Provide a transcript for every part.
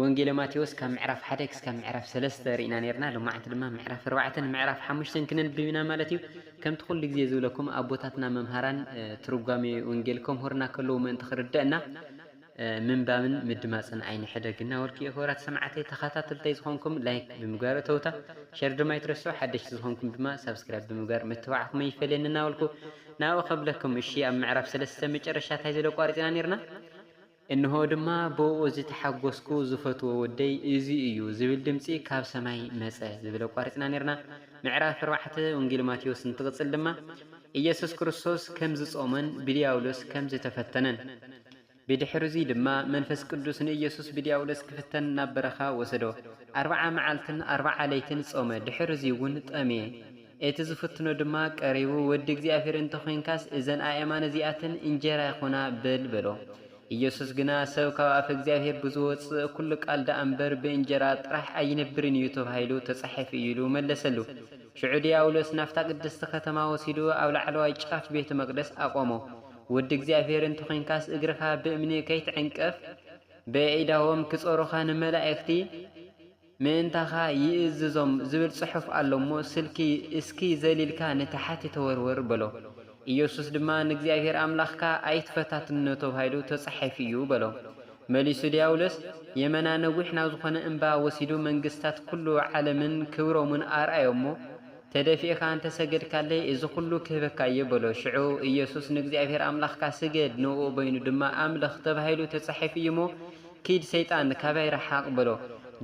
ወንጌለ ማቴዎስ ካብ ምዕራፍ ሓደ ክስካብ ምዕራፍ ሰለስተ ርኢና ኔርና ሎማዓንቲ ድማ ምዕራፍ ኣርባዕተ ን ምዕራፍ ሓሙሽተን ክነንብብ ኢና ማለት እዩ ከምቲ ኩሉ ግዜ ዝብለኩም ኣቦታትና መምሃራን ትርጓሜ ወንጌል ከምህሩና ከለዉ ምእንቲ ክርደእና ምንባብን ምድማጽን ኣይንሕደግ እና በልኩ እየ ክቡራት ሰማዕተይ ተኸታተልተይ ዝኾንኩም ላይክ ብምግባር እተውታ ሸር ድማ ኣይትረስዑ ሓደሽቲ ዝኾንኩም ድማ ሳብስክራይብ ብምግባር ምትባዕኩም ኣይፈለየኒ እና በልኩ ናብኡ ከብለኩም እሺ ኣብ ምዕራፍ ሰለስተ መጨረሻ ታይ ዝለ ኣቋሪጽና ኔርና እንሆ ድማ ብእኡ ዝተሓጐስኩ ዝፈትዎ ወደይ እዚ እዩ ዝብል ድምጺ ካብ ሰማይ መጸ ዝብል ኣቋሪጽና ኔርና። ምዕራፍ ኣርባዕተ ወንጌል ማቴዎስ እንትቕጽል ድማ ኢየሱስ ክርስቶስ ከም ዝጾመን ብድያብሎስ ከም ዝተፈተነን ብድሕርዚ ድማ መንፈስ ቅዱስ ንኢየሱስ ብድያብሎስ ክፍተን ናብ በረኻ ወሰዶ ኣርብዓ መዓልትን ኣርብዓ ለይትን ጾመ ድሕርዚውን ጠምየ እቲ ዝፍትኖ ድማ ቀሪቡ፣ ወዲ እግዚኣብሄር እንተ ዄንካስ፣ እዘን ኣእማን እዚኣተን እንጀራ ይኹና በል በሎ። ኢየሱስ ግና፣ ሰብ ካብ ኣፈ እግዚኣብሄር ብዝወጽእ ኵሉ ቃል ደኣ እምበር፣ ብእንጀራ ጥራሕ ኣይነብርን እዩ ተባሂሉ ተጻሒፉ እዩ ኢሉ መለሰሉ። ሽዑ ድያብሎስ ናብታ ቅድስቲ ከተማ ወሲዱ ኣብ ላዕለዋይ ጫፍ ቤተ መቕደስ ኣቖሞ፣ ወዲ እግዚኣብሄር እንተ ዄንካስ፣ እግርኻ ብእምኒ ከይትዕንቅፍ፣ በየኢዳዎም ኪጾሩኻ ንመላእክቲ ምእንታኻ ይእዝዞም ዝብል ጽሑፍ ኣሎ እሞ፣ ስልኪ እስኪ ዘሊልካ ንታሕቲ ተወርውር በሎ። ኢየሱስ ድማ ንእግዚኣብሔር ኣምላኽካ ኣይትፈታትኖ ተባሂሉ ተጻሒፉ እዩ በሎ። መሊሱ ድያብሎስ የመና ነዊሕ ናብ ዝኾነ እምባ ወሲዱ መንግሥታት ኩሉ ዓለምን ክብሮምን ኣርኣዮ'ሞ ተደፊእካ እንተ ሰገድካለይ እዚ ኩሉ ክህበካ እየ በሎ። ሽዑ ኢየሱስ ንእግዚኣብሔር ኣምላኽካ ስገድ ንእኡ በይኑ ድማ ኣምልኽ ተባሂሉ ተጻሒፉ እዩ'ሞ ኪድ ሰይጣን ካባይ ርሓቕ በሎ።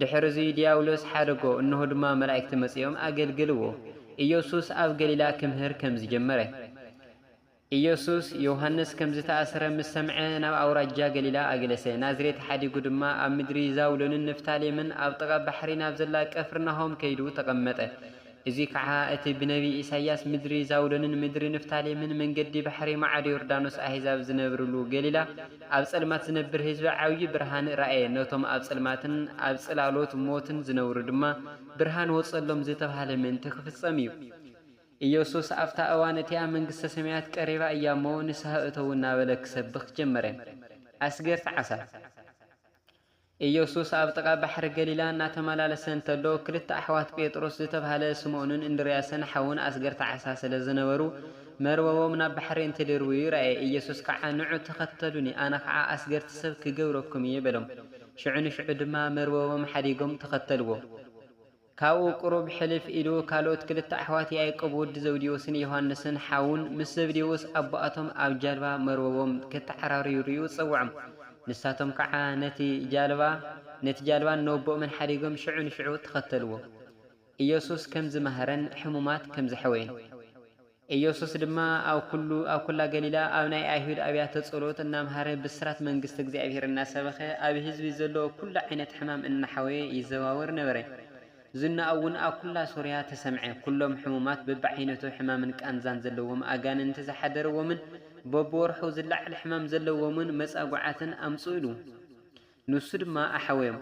ድሕርዙይ ድያብሎስ ሓደጎ፣ እንሆ ድማ መላእክቲ መጺኦም ኣገልገልዎ። ኢየሱስ ኣብ ገሊላ ክምህር ከም ዝጀመረ። ኢየሱስ ዮውሃንስ ከም ዝተኣስረ ምስ ሰምዐ ናብ ኣውራጃ ገሊላ ኣገለሰ፣ ናዝሬት ሓዲጉ ድማ ኣብ ምድሪ ዛብሎንን ንፍታሌምን ኣብ ጥቓ ባሕሪ ናብ ዘላ ቀፍርናሆም ከይዱ ተቐመጠ። እዚ ከዓ እቲ ብነቢይ ኢሳይያስ ምድሪ ዛብሎንን ምድሪ ንፍታሌምን መንገዲ ባሕሪ ማዕዶ ዮርዳኖስ ኣሕዛብ ዝነብርሉ ገሊላ ኣብ ጸልማት ዝነብር ህዝቢ ዓብዪ ብርሃን ረኣየ ነቶም ኣብ ጽልማትን ኣብ ጽላሎት ሞትን ዝነብሩ ድማ ብርሃን ወጸሎም ዝተብሃለ ምእንቲ ክፍጸም እዩ። ኢየሱስ ኣብታ እዋን እቲኣ መንግስተ ሰማያት ቀሪባ እያ እሞ ንስሃ እተዉ እናበለ ክሰብኽ ጀመረ። ኣስገርቲ ዓሳ። ኢየሱስ ኣብ ጥቓ ባሕሪ ገሊላ እናተመላለሰ እንተሎ፣ ክልተ ኣሕዋት ጴጥሮስ ዝተባህለ ስምኦንን እንድርያስን ሓዉን ኣስገርቲ ዓሳ ስለ ዝነበሩ፣ መርበቦም ናብ ባሕሪ እንትድርብዩ ረኣየ። ኢየሱስ ከዓ ንዑ ተኸተሉኒ፣ ኣነ ከዓ ኣስገርቲ ሰብ ክገብረኩም እየ በሎም። ሽዑ ንሽዑ ድማ መርበቦም ሓዲጎም ተኸተልዎ። ካብኡ ቅሩብ ሕልፍ ኢሉ ካልኦት ክልተ ኣሕዋት ያእቆብ ወዲ ዘብዴዎስን ዮሓንስን ሓዉን ምስ ዘብዴዎስ ኣቦኣቶም ኣብ ጃልባ መርበቦም ከተዓራርዩ ሪኡ ጸውዖም ንሳቶም ከዓ ነቲ ጃልባ ነቲ ጃልባን ነቦኦምን ሓዲጎም ሽዑ ንሽዑ ተኸተልዎ ኢየሱስ ከምዝመሃረን ሕሙማት ከምዘሕወየን። ኢየሱስ ድማ ኣብ ኵሉ ኣብ ኵላ ገሊላ ኣብ ናይ ኣይሁድ ኣብያተ ጸሎት እናምሃረ ብስራት መንግስተ እግዚኣብሔር እናሰበኸ ኣብ ሕዝቢ ዘሎ ኵሉ ዓይነት ሕማም እናሓወየ ይዘዋወር ነበረ። ዝናኡውን ኣብ ኵላ ሶርያ ተሰምዐ። ኵሎም ሕሙማት በብዓይነቱ ሕማምን ቃንዛን ዘለዎም ኣጋንንቲ ዝሓደረዎምን በብወርሑ ዝለዓል ሕማም ዘለዎምን መጻጉዓትን ኣምጽኡሉ። ንሱ ድማ ኣሕወዮም፣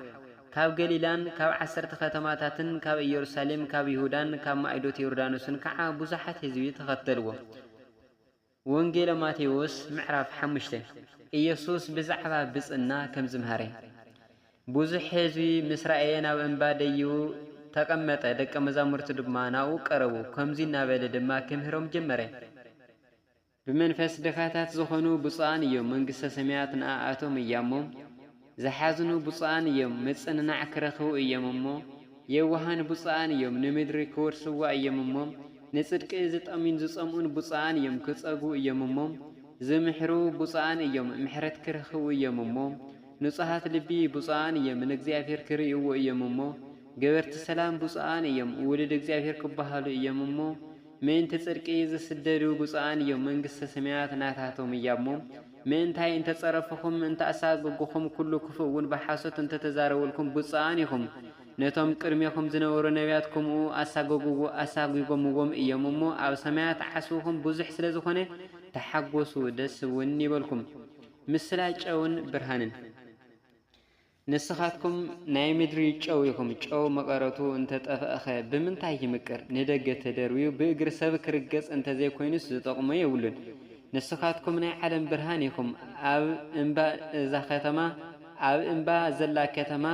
ካብ ገሊላን ካብ ዓሰርተ ኸተማታትን ካብ ኢየሩሳሌም ካብ ይሁዳን ካብ ማእዶት ዮርዳኖስን ከዓ ብዙሓት ሕዝቢ ተኸተልዎ። ወንጌለ ማቴዎስ ምዕራፍ ሓሙሽተ። ኢየሱስ ብዛዕባ ብፅእና ከም ዝምሃረ። ብዙሕ ሕዝቢ ምስ ረኣየ ናብ እምባ ደይቡ ተቐመጠ፣ ደቀ መዛሙርቱ ድማ ናብኡ ቀረቡ፣ ከምዙይ እናበለ ድማ ክምህሮም ጀመረ። ብመንፈስ ድኻታት ዝኾኑ ብጹኣን እዮም መንግስተ ሰማያት ንኣኣቶም እያሞ ዝሓዝኑ ብጹኣን እዮም ምጽንናዕ ክረኽቡ እዮም እሞ የዋሃን ብጹኣን እዮም ንምድሪ ክወርስዋ እዮም እሞ ንጽድቂ ዝጠምዩን ዝጸምኡን ብጹኣን እዮም ክጸግቡ እዮም እሞ ዝምሕሩ ብጹኣን እዮም ምሕረት ክረኽቡ እዮም እሞ ንጹሃት ልቢ ብጹኣን እዮም ንእግዚኣብሔር ክርእይዎ እዮም እሞ ገበርቲ ሰላም ብጹኣን እዮም ውሉድ እግዚኣብሔር ክበሃሉ እዮም እሞ ምእንቲ ጽድቂ ዚስደዱ ብጹኣን እዮም፣ መንግስተ ሰማያት ናታቶም እያ'ሞ። ምእንታይ እንተ ጸረፍኹም፣ እንተ ኣሳጐጉኹም፣ ኵሉ ክፉእውን ብሓሶት እንተ ተዛረቡልኩም፣ ብጹኣን ኢኹም። ነቶም ቅድሜኹም ዝነበሩ ነብያት ከምኡ ኣሳጐግዎ ኣሳጒጐምዎም እዮም እሞ፣ ኣብ ሰማያት ዓስብኹም ብዙሕ ስለ ዝኾነ፣ ተሓጐሱ፣ ደስ'ውን ይበልኩም። ምስላ ጨውን ብርሃንን። ንስኻትኩም ናይ ምድሪ ጨው ኢኹም፣ ጨው መቐረቱ እንተ ጠፍኣኸ፣ ብምንታይ ይምቅር? ንደገ ተደርብዩ ብእግሪ ሰብ ኪርገጽ እንተ ዘይኰይኑስ ዚጠቕሞ የብሉን። ንስኻትኩም ናይ ዓለም ብርሃን ኢኹም፣ ኣብ እምባ እዛ ኸተማ፣ ኣብ እምባ ዘላ ከተማ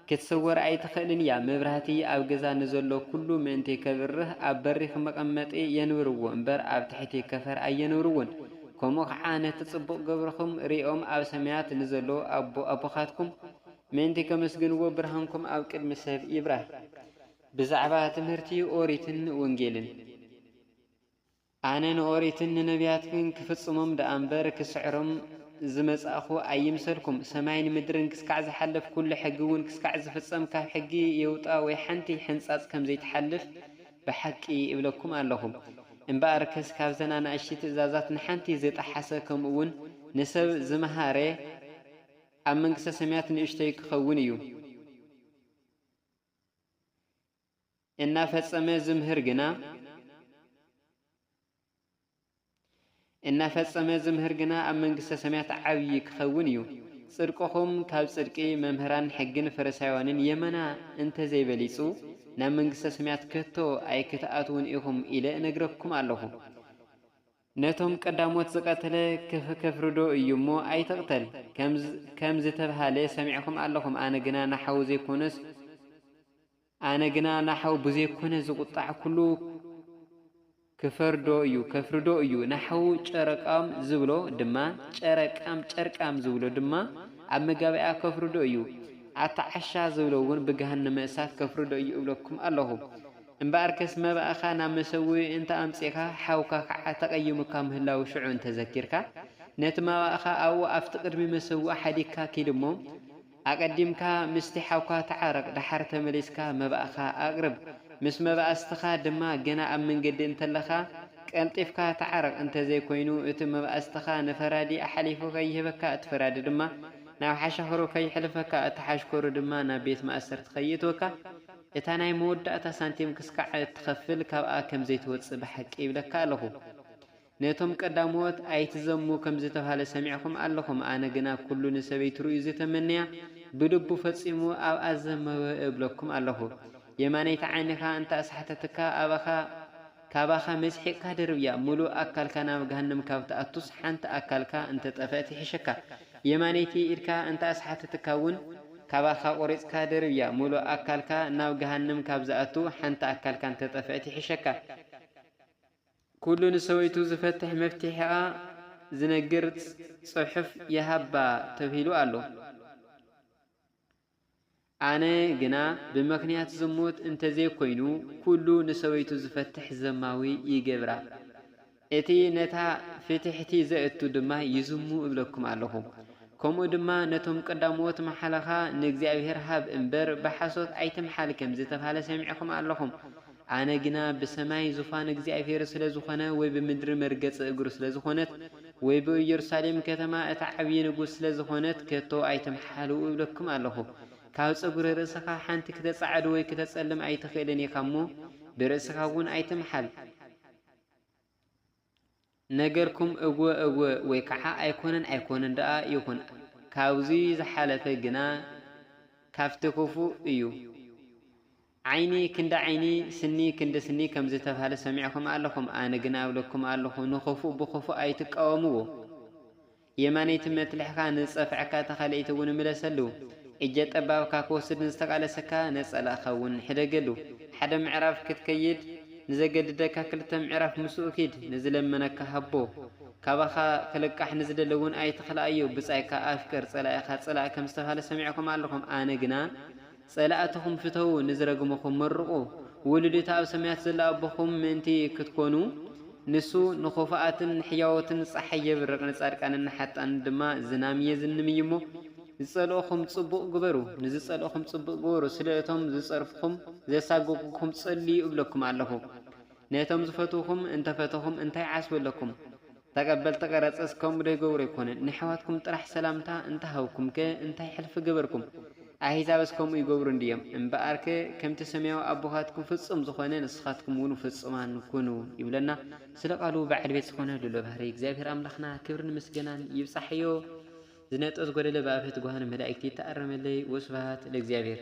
ክትስወር ኣይትኽእልን እያ። መብራህቲ ኣብ ገዛ ንዘሎ ኵሉ ምእንቲ ኬብርህ፣ ኣብ በሪኽ መቐመጢ የንብርዎ እምበር፣ ኣብ ትሕቲ ከፈር ኣየንብርዎን። ከምኡ ኸዓ ነቲ ጽቡቕ ግብርኹም ርእዮም ኣብ ሰማያት ንዘሎ ኣቦ ኣቦኻትኩም ምእንቲ ከመስግንዎ ብርሃንኩም ኣብ ቅድሚ ሰብ ይብራህ። ብዛዕባ ትምህርቲ ኦሪትን ወንጌልን። ኣነ ንኦሪትን ንነብያትን ክፍጽሞም ደኣ እምበር ክስዕሮም ዝመጻእኹ ኣይምሰልኩም። ሰማይን ምድርን ክስካዕ ዝሓለፍ ኩሉ ሕጊ እውን ክስካዕ ዝፍጸም ካብ ሕጊ የውጣ ወይ ሓንቲ ሕንጻጽ ከምዘይትሓልፍ ብሓቂ እብለኩም ኣለኹ እምበኣርከስ ካብዘን ኣናእሽቲ ትእዛዛት ንሓንቲ ዝጠሓሰ ከምኡውን ንሰብ ዝመሃረ ኣብ መንግስተ ሰማያት ንእሽቶይ ክኸውን እዩ፣ እናፈጸመ ዝምህር ግና፣ እናፈጸመ ዝምህር ግና ኣብ መንግስተ ሰማያት ዓብዪ ክኸውን እዩ። ጽድቅኹም ካብ ጽድቂ መምህራን ሕግን ፈሪሳውያንን የመና እንተ ዘይበሊጹ፣ ናብ መንግስተ ሰማያት ከቶ ኣይክትኣትዉን ኢኹም ኢለ እነግረኩም ኣለኹ። ነቶም ቀዳሞት ዝቐተለ ከፍርዶ እዩ እሞ፣ ኣይትቕተል ከም ዝተብሃለ ሰሚዕኩም ኣለኹም፣ ኣነ ግና ንሓዉ ዘይኰነስ፣ ኣነ ግና ናሓው ብዘይኮነ ዝቁጣዕ ኩሉ ክፈርዶ እዩ ከፍርዶ እዩ ናሓው ጨረቃም ዝብሎ ድማ ጨረቃም ጨርቃም ዝብሎ ድማ ኣብ መጋብእያ ከፍርዶ እዩ ኣቲ ዓሻ ዝብሎ እውን ብገሃነመ እሳት ከፍርዶ እዩ እብለኩም ኣለኹ እምበኣርከስ መባእኻ ናብ መሰውኢ እንተ ኣምጺእካ ሓውካ ከዓ ተቀይሙካ ምህላው ሽዑ እንተዘኪርካ ነቲ መባእኻ ኣብኡ ኣብቲ ቅድሚ መሰውኢ ሓዲግካ ኪድ እሞ ኣቀዲምካ ምስቲ ሓውካ ተዓረቅ ደሓር ተመሊስካ መባእካ ኣቅርብ ምስ መባእስትካ ድማ ገና ኣብ መንገዲ እንተለካ ቀልጢፍካ ተዓረቅ እንተዘይ ኮይኑ እቲ መባእስትካ ንፈራዲ ኣሓሊፉ ከይህበካ እቲ ፈራዲ ድማ ናብ ሓሻክሩ ከይሕልፈካ እቲ ሓሽከሩ ድማ ናብ ቤት ማእሰርቲ ከይእትወካ እታ ናይ መወዳእታ ሳንቲም ክስካዕ እትከፍል ካብኣ ከምዘይትወጽእ ብሓቂ ይብለካ ኣለኩ ነቶም ቀዳሞት ኣይትዘሙ ከም ዝተብሃለ ሰሚዕኩም ኣለኹም፣ ኣነ ግና ኩሉ ንሰበይቱ ርእዩ ዝተመነያ ብልቡ ፈጺሙ ኣብኣ ዘመወ እብለኩም ኣለኹ። የማነይቲ ዓይንኻ እንተ ኣስሓተትካ ኣባኻ ካባኻ መስሒቕካ ደርብያ፣ ምሉእ ኣካልካ ናብ ገሃነም ካብ ትኣቱስ ሓንቲ ኣካልካ እንተ ጠፍእት ይሕሸካ። የማነይቲ ኢድካ እንተ ኣስሓተትካ እውን። ካባኻ ቆሪጽካ ደርብያ፣ ምሉእ ኣካልካ ናብ ገሃነም ካብ ዝኣቱ ሓንቲ ኣካልካ እንተ ጠፍእት ይሕሸካ። ኩሉ ንሰበይቱ ዝፈትሕ መፍቲሒኣ ዝነግር ጽሑፍ ይሃባ ተብሂሉ ኣሎ። ኣነ ግና ብመክንያት ዝሙት እንተዘይኮይኑ ኩሉ ንሰበይቱ ዝፈትሕ ዘማዊ ይገብራ። እቲ ነታ ፍትሕቲ ዘእቱ ድማ ይዝሙ እብለኩም ኣለኹ። ከምኡ ድማ ነቶም ቀዳሞት መሓለኻ ንእግዚኣብሔር ሃብ እምበር ብሓሶት ኣይትምሓል ከምዝተብሃለ ሰሚዕኹም ኣለኹም። ኣነ ግና ብሰማይ ዙፋን እግዚኣብሄር ስለ ዝኾነ ወይ ብምድሪ መርገጺ እግሩ ስለ ዝኾነት ወይ ብእየሩሳሌም ከተማ እቲ ዓብዪ ንጉስ ስለ ዝኾነት ከቶ ኣይትምሓልኡ እብለኩም ኣሎኹ። ካብ ጸጉሪ ርእስኻ ሓንቲ ክተጻዕድ ወይ ክተጸልም ኣይትኽእልን ኢኻ እሞ ብርእስኻውን ኣይትምሓል። ነገርኩም እወ እወ ወይ ከዓ ኣይኮነን ኣይኮነን ደኣ ይኹን ካብዙይ ዝሓለፈ ግና ካብቲ ክፉእ እዩ ዓይኒ ክንዲ ዓይኒ ስኒ ክንዲ ስኒ ከምዝተብሃለ ሰሚዕኹም ኣለኹም ኣነ ግና እብለኩም ኣለኹ ንኽፉእ ብኽፉእ ኣይትቃወምዎ የማነይቲ መትልሕካ ንዝጸፍዐካ ተካልኣይቲ እውን ምለሰሉ። እጀ ጠባብካ ክወስድ ንዝተቃለሰካ ነጸላእካ እውን ሕደገሉ። ሓደ ምዕራፍ ክትከይድ ንዘገድደካ ክልተ ምዕራፍ ምስኡ ኪድ፣ ንዝለመነካ ሃቦ። ካባኻ ክልቃሕ ንዝደሊ እውን ኣይትኽልኣዮ፣ ብጻይካ ኣፍቅር ጸላኢኻ ጽላእ ከም ዝተብሃለ ሰሚዕኩም ኣለኹም ኣነ ግና፣ ጸላእትኹም ፍተዉ፣ ንዝረግሙኹም መርቑ፣ ውሉድ እቲ ኣብ ሰማያት ዘሎ ኣቦኹም ምእንቲ ክትኰኑ፣ ንሱ ንኽፉኣትን ንሕያዎትን ጸሓይ የብርቕ፣ ንጻድቃንን ንሓጥኣንን ድማ ዝናም የዝንም እዩ እሞ፣ ዝጸልኡኹም ጽቡቕ ግበሩ፣ ንዝጸልኡኹም ጽቡቕ ግበሩ፣ ስለ እቶም ዝጸርፉኹም፣ ዘሳቅቁኩም ጸልዩ እብለኩም ኣለኹ። ነቶም ዝፈትዉኹም እንተ ፈተኹም እንታይ ዓስቢ ኣለኩም? ተቀበልቲ ቀረጽ እስከም ዶ ይገብሩ ኣይኮነን ነሕዋትኩም ጥራሕ ሰላምታ እንተ ሃብኩም ከ እንታይ ሕልፊ ገበርኩም ኣሂዛብስ ከምኡ ይገብሩ እንድዮም እምበኣር ከ ከምቲ ሰማያዊ ኣቦካትኩም ፍጹም ዝኮነ ንስካትኩም ውን ፍጹማን ኩኑ ይብለና ስለ ቃሉ በዓል ቤት ዝኮነ ልኡለ ባህርይ እግዚኣብሄር ኣምላክና ክብርን ምስገናን ይብጻሕዮ ዝነጥበ ዝጎደለ ብኣፈ ትጉሃን መላኢክት ይተኣረመለይ ወስብሃት ለእግዚኣብሄር።